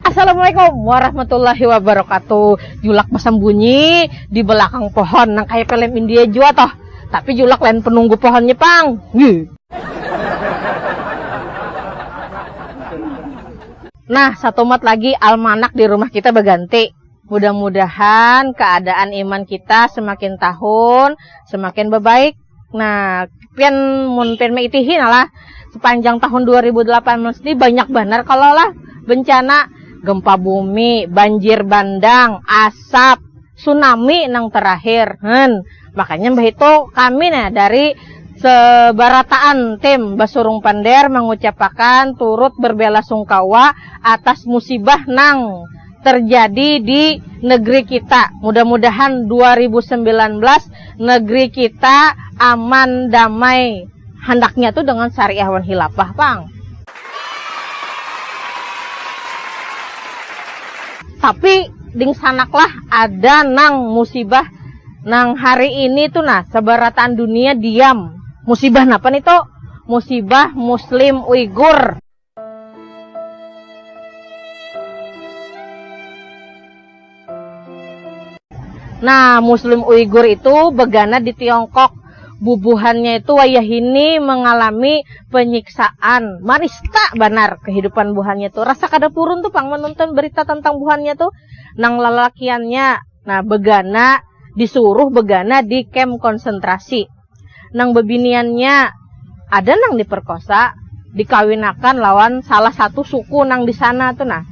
Assalamualaikum warahmatullahi wabarakatuh. Julak basambunyi di belakang pohon nang kaya film India jua toh. Tapi Julak lain penunggu pohonnya pang. Nah, satumat lagi almanak di rumah kita baganti. Mudah-mudahan keadaan iman kita semakin tahun semakin babaik. Nah, pian mun pian maitihi nah lah, sepanjang tahun 2018 ni banyak banar kalo lah bencana gempa bumi, banjir bandang, asap, tsunami nang terakhir. Hn, makanya mbahitu kami nah dari sebarataan tim Basurung Pander mengucapakan turut berbelasungkawa atas musibah nang. terjadi di negeri kita mudah mudahan dua ribu sembilan belas negeri kita aman damai handaknya tuh dengan syariah wan hilafah pang. Tapi dingsanaklah ada nang musibah nang hari ini tu nah sebarataan dunia diam musibah napa ni to musibah muslim uyghur. Nah, Muslim Uighur itu begana di Tiongkok. Bubuhannya itu wayahini mengalami penyiksaan. Marista banar kehidupan buhannya itu. Rasa kada purun tuh pang menonton berita tentang buhannya tuh. Nang lalakiannya, nah begana disuruh begana di kem konsentrasi. nang babiniannya ada nang diperkosa dikawinakan lawan salah satu suku nang di sana tu nah.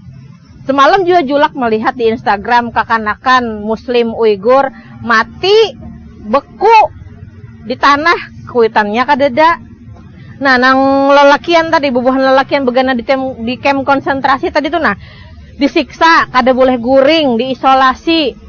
Semalam jua Julak melihat di Instagram kakanakan Muslim Uighur mati beku di tanah kuitannya kadada. Nah nang lelakian tadi bubuhan lelakian begana di tem di kem konsentrasi tadi tu nah disiksa kada boleh guring diisolasi.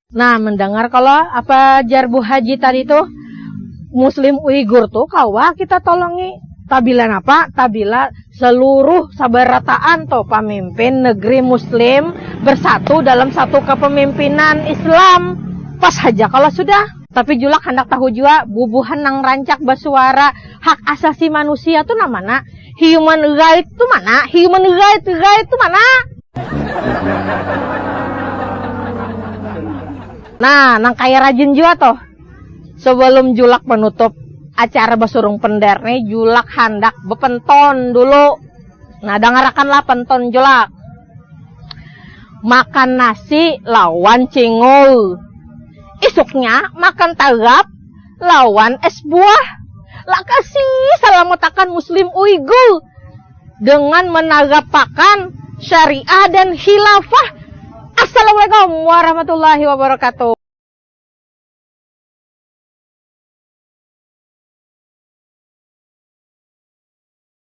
Nah, mendengar kalau apa jar Bu Haji tadi tuh, Muslim Uighur tuh kawa kita tolongi. Tabila napa? Tabila seluruh sabarataan tuh pemimpin negeri Muslim bersatu dalam satu kepemimpinan Islam. Pas haja kalau sudah. Tapi julak handak tahu jua bubuhan nang rancak basuara hak asasi manusia tuh nang mana? Human right tu mana? Human right right tu mana? Nah, nang kaya rajin jua tuh. Sebelum julak menutup acara basurung pender nih, julak handak bepenton dulu. Nah, dangarakanlah penton julak. Makan nasi lawan cingul. Isuknya makan tagap lawan es buah. Lakasi salamatakan Muslim Uighur dengan menagapakan syariah dan khilafah. Assalamualaikum warahmatullahi wabarakatuh.